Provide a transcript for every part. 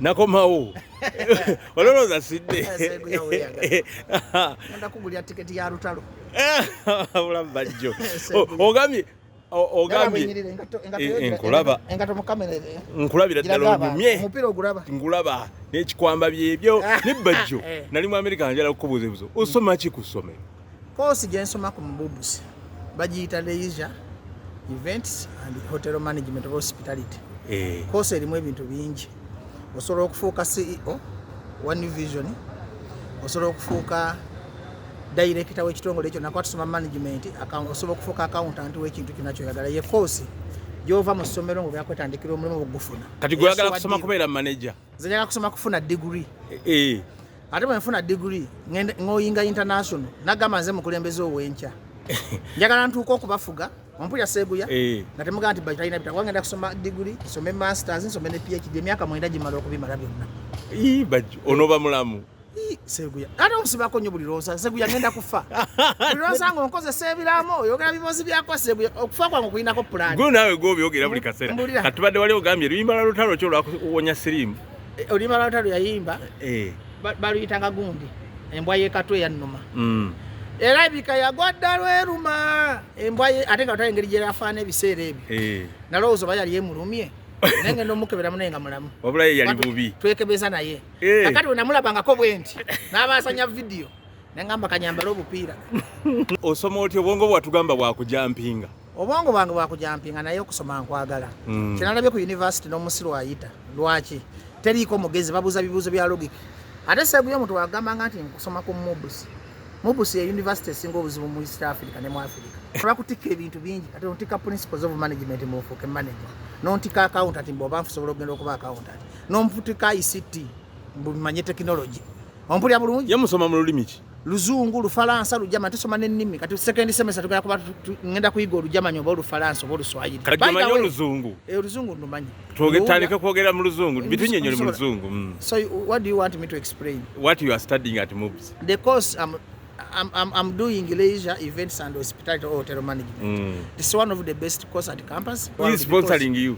nakomawo olowooza sidde bulamu bajjo ogambye ogambyenkulaba nkulabira ddala onyumye nkulaba n'ekikwamba byebyo ne bajjo nali mu amerika njala kukubuuza ebuzo osoma ki ku ssomero Koosi gye nsoma ku Mububusi bagiyita Leisure Events and Hotel Management of Hospitality. Eh. Koosi erimu ebintu bingi. Osobola okufuuka CEO wa New Vision, osobola okufuuka dayirekita w'ekitongole ekyo nakuba tusoma management, osobola okufuuka akawuntanti w'ekintu kyonna kyoyagala. Ye koosi gy'ova mu ssomero ng'obyakwetandiikira omulimu ogufuna. Kati gwe oyagala kusoma kubeera maneja? nze njaga kusoma kufuna digiri eh, eh. ate bwenfuna digiri ngoyinga international nagamba nze mukulembeze owenkya njagala ntuuka okubafuga ompulira seguya eh. nga temugaa nti batalina bitabo wangenda kusoma digiri nsome masters nsome ne phd emyaka mwenda gimala okubimala byonna ono bamulamu Seguya. Ate omusibako nnyo buli lwonsa Seguya ngenda kufa. Buli lwonsa nga onkozesa ebiraamo oyogera biboozi byako Seguya okufa kwange okulinako pulaani. Gwe naawe gw'obyogera buli kaseera. Kati tubadde wali ogambye luyimba lwa lutalo ki olwakuwonya siriimu. Eh, oluyimba lwa lutalo yayimba eh. baluyitanga gundi embwa y'ekatwe yannuma. Mm. era ebika yagwa dda lweruma embwa ye ate nga otali engeri gyerafaana ebiseera ebyo eh. nalowooza oba yali emulumye naye ngenda omukeberamu naye nga mulamu wabulaye yali bubi twekebeza naye eh. kakati wenamulabangako bwenti nabasanya vidiyo nengamba kanyambala obupiira osoma otya obwongo bwatugamba bwakujampinga obwongo bwange bwakujampinga naye okusoma nkwagala mm. kyenalabye ku univesity nomusiru ayita lwaki teriiko mugezi babuuza bibuuzo bya logic ate seguyo omuntu wagambanga nti nkusoma ku mubus mubus ye univesity esinga obuzibu mu east africa ne mu africa bakutikka ebintu bingi ate nontikka principles of management mufuuke manager nontikka accountant mboba nfusobola okugenda okuba accountant N'omuvutika ICT mbu manye technology. Ompulira bulungi? Ye musoma mu lulimi ki? Luzungu, Lufalansa, Lujama, tusoma n'ennimi. Kati second semester tugenda kuba ngenda kuyiga Olujamani oba Olufalansa oba Oluswayiri. Kati omanyi Oluzungu? Eh, Oluzungu ndumanyi. Twogere kwogera mu Luzungu, bitunyenyole mu Luzungu. Mm. So what do you want me to explain? What you are studying at MUBS? The course I'm um, I'm, I'm, I'm doing leisure events and hospitality or hotel management. Mm. It's one of the best course at campus. Who is sponsoring you?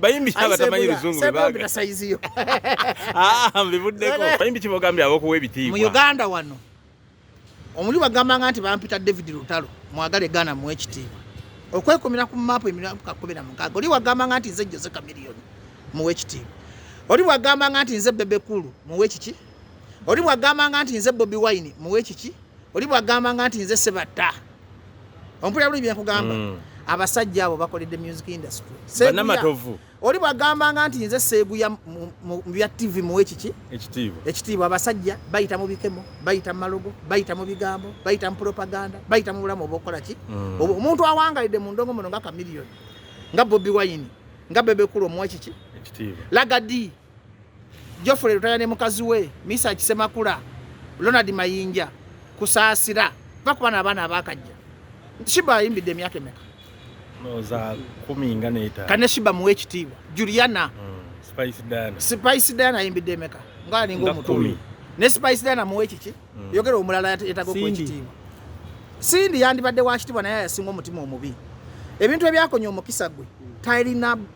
bayimbi abatamanyi luzungu bebaga sayiziyo ah, mbivuddeko bayimbi kibogambye abokuwa ebitiibwa mu uganda wano omuli bagambanga nti bampita david lutalo mwagale gana mu ekitiibwa okwekumira ku maapu emiramuka kumi na mukaaga oli wagambanga nti nze jose kamiliyoni muwa ekitiibwa oli wagambanga nti nze bebekulu muwa ekiki oli wagambanga nti nze bobi wine muwa ekiki oli wagambanga nti nze sebatta ompulira buli byenkugamba mm. abasajja abo bakoledde music industry banamatovu oli bwagambanga nti nze seeguya mu bya tv muwe kiki ekitiibwa ekitiibwa abasajja bayita mu bikemo bayita mu malogo bayita mu bigambo bayita mu propaganda bayita mu bulamu obwokukola ki mm. omuntu awangalidde mu ndongo muno nga kamiliyoni nga bobi wayini nga bebekulu omuwe kiki ekitiibwa lagadi Geoffrey Lutaya ne mukazi we Misa Kisemakula, Ronald Mayinja, Kusaasira va ku bana abaana abaakajja. Shiba ayimbidde emyaka emeka? Noza kumi nga neeta. Kane Shiba muwe ekitiibwa. Juliana. Mm, Spice Diana. Spice Diana ayimbidde emeka? Nga alinga omutumi. Ne Spice Diana muwe kiki? Mm. Yogera omulala yetaga okuwa ekitiibwa. Cindy yandibadde wa kitiibwa naye yasinga omutima omubi. Ebintu ebyakonya omukisa gwe. Tairina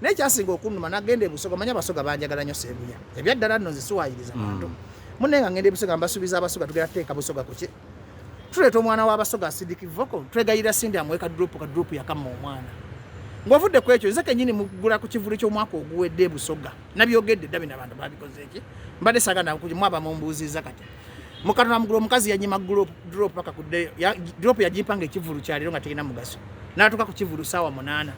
naye kyasinga okunuma nagenda ebusoga manya abasoga banjagala nyo sebuya ebyaddala nno nzisiwayiriza hmm. bantu mune nga ngenda ebusoga mbasubiza abasoga tugenda tuteeka busoga kuki tuleeta omwana w'abasoga asidiki voko twegayirira sindi amuwe kadropu kadropu yakamma omwana ng'ovudde ku ekyo nze kenyini mugula ku kivuli ky'omwaka oguwedde ebusoga nabyogedde dda bino abantu babikoze eki mbadde saga nakuji mwaba mumbuuziza kati mukano na mugulu omukazi yanyima group drop paka kude ya, drop ya jipanga ekivulu cha lero nga tegina mugaso natuka ku kivulu sawa munana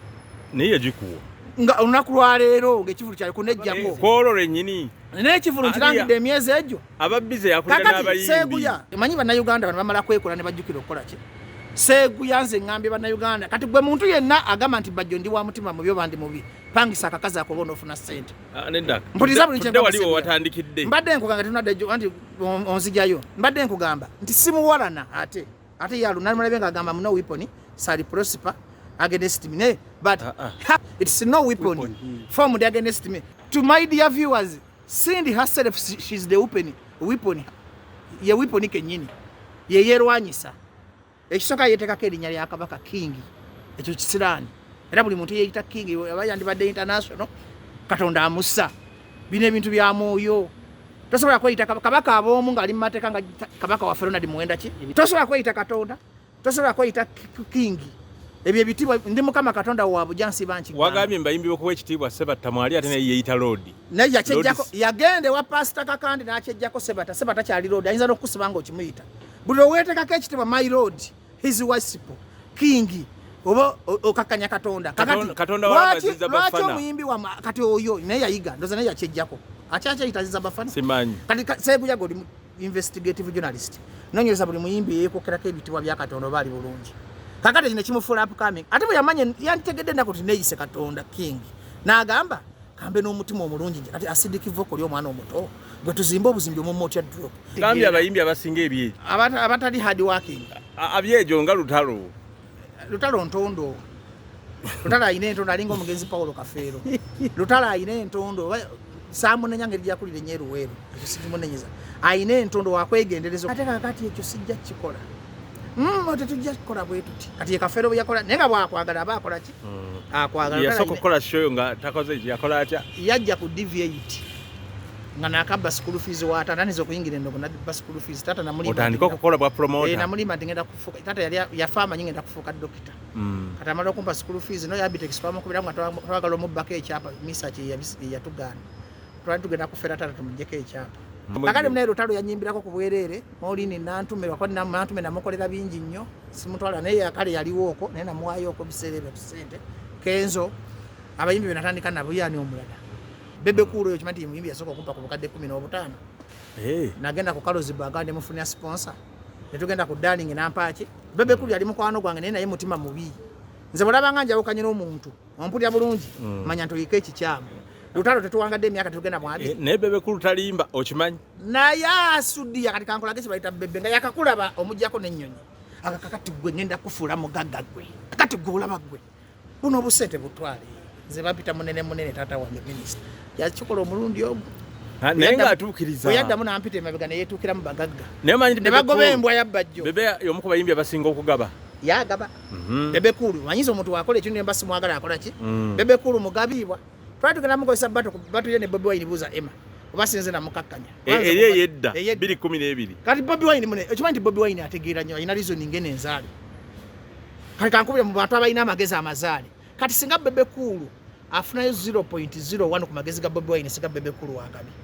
niye jikuwa nga unaku lwa lero nge kivulu cha kunejjako kolo renyini ne kivulu kirangi de myezi ejo ababize yakulira nabayimbi seguya manyi bana Uganda bana bamala kwekola ne bajukira okola ki seguya nze ngambe bana Uganda kati gwe muntu yenna agama nti bajjo ndi wa mutima mu byo bandi mubi pangisa akakaza ko bono ofuna sente Ah, mpuliriza buli kyewatandikidde mbadde nkugamba tunaddejo anti onzijayo mbadde nkugamba nti simuwalana ate ate yalu nalimulabe nga agamba muno weapon sali prosper against me naye but uh, uh. it's no weapon, weapon. Hmm. formed against me to my dear viewers Cindy herself she's the weapon weapon ye weapon kenyini yeyerwanyisa Ekisooka yeetekako erinnya lya Kabaka Kingi, ekyo kisiraani era buli muntu yeeyita Kingi aba yandibadde international, Katonda amussa. Bino ebintu bya mwoyo. Tosobola kweyita Kabaka ab'omu ng'ali mu mateeka nga Kabaka waffe Ronald Muwenda ki? Tosobola kweyita Katonda, tosobola kweyita Kingi. Ebyo ebitiibwa ndi Mukama Katonda wa bujansi banki. Wagambye mbayimbi okuwa ekitiibwa Sebatta mwali ate naye yeeyita Loodi. Naye yakyejjako yagenda ewa Paasita Kakande n'akyejjako Sebatta. Sebatta kyali Loodi ayinza n'okukusiba ng'okimuyita. buli owetekako ekitibwa my lord his wasipo kingi oba okakanya katonda kakatiwaki omuyimbi wa kati oyo naye yayiga ndoza naye yakyejjako akyakyeyitaziza bafana kati seguyaga oli investigative journalist nonyereza buli muyimbi yeyekokerako ebitibwa bya katonda oba ali bulungi kakati kino kimufuula upcoming ate bwe yamanya yanditegedde enaku ti neyise katonda king nagamba kambe n'omutima omulungi nje kati asidiki voko lyo omwana omuto gwe tuzimba obuzimbi omumma otya drop kambi abayimbi abasinga ebyejo abatali hard working abyejo nga lutalo lutalo ntondo lutalo alina entondo alinga omugenzi paulo kafeero lutalo alina entondo samunenya ngeri gyakulira enyo eruweeru ekyo sikimunenyeza alina entondo wakwegendereza ate kakati ekyo sijja kukikola mm, tetujja kukola bwetuti kati yekafeero bweyakola naye nga bwakwagala aba akolaki mm. akwagala yasooka okukola show nga takoze yakola atya yajja ku dv8 nga nakabba school fees wa tata nizo kuyingira ndo kuna bas school fees tata na mulima otandika kukola bwa promoter e na mulima ndingenda kufuka tata yali ya fama nyinga kufuka dokita mm. kata mara kumpa school fees no ya bitex fama kubira nga twagalo mu bake chapa misa chi ya bisi ya tugana twali tugenda kufera tata tumjeke chapa akali mnairo talo ya nyimbira ko kubwerere Maureen Nantume bakwani na Nantume namukolera bingi nnyo simutwala naye yakale yaliwo oko naye namuwaayo oko biseera ebyo tusente Kenzo abayimbi be natandika nabo yani omulala Bebe Cool oyo kimanti muyimbi yasooka okumpa ku bukadde kumi n'obutaano hey. Eh. nagenda ku Kalozi Baga ne mufunira sponsor ne tugenda ku Darling nampaaki Bebe Cool yali mukwano gwange naye naye mutima mubi nze bwalabanga njawukanye n'omuntu ompulira bulungi mm. manya nti oyiko ekikyamu lutalo tetuwangadde emyaka tetugenda mwami eh, naye bebe kulu talimba okimanyi naye asudiya kati kankolage kibayita bebe nga yakakulaba omugyako n'ennyonyi akaka kati gwe ngenda kufuula mugagga gwe kati gwe olaba gwe buno obusente butwale nze bampita munene munene taata wange minisita yakikola omulundi omu ah, naye nga atuukiriza oyaddamu nampita emabega neyetuukiramu bagagga nebagoba embwa yabbajjo bebe yomu ku bayimbi abasinga okugaba yagaba mhm. bebe kulu manyiza omuntu wakola ekintu nemba simwagala akola ki mm. bebe kulu mugabiibwa twali tugenda mukozesa batu batu ye ne bobi wine buza ema oba sinze na mukakkanya e, eri eyedda 212 kati bobi wine mune ekimanyi bobi wine ategeera nnyo alina reasoning eno enzaale kati kankubire mu bantu abalina amagezi amazaale kati singa bebe kulu afunayo 0.01 ku magezi ga bobi wine singa bebe kulu wakabi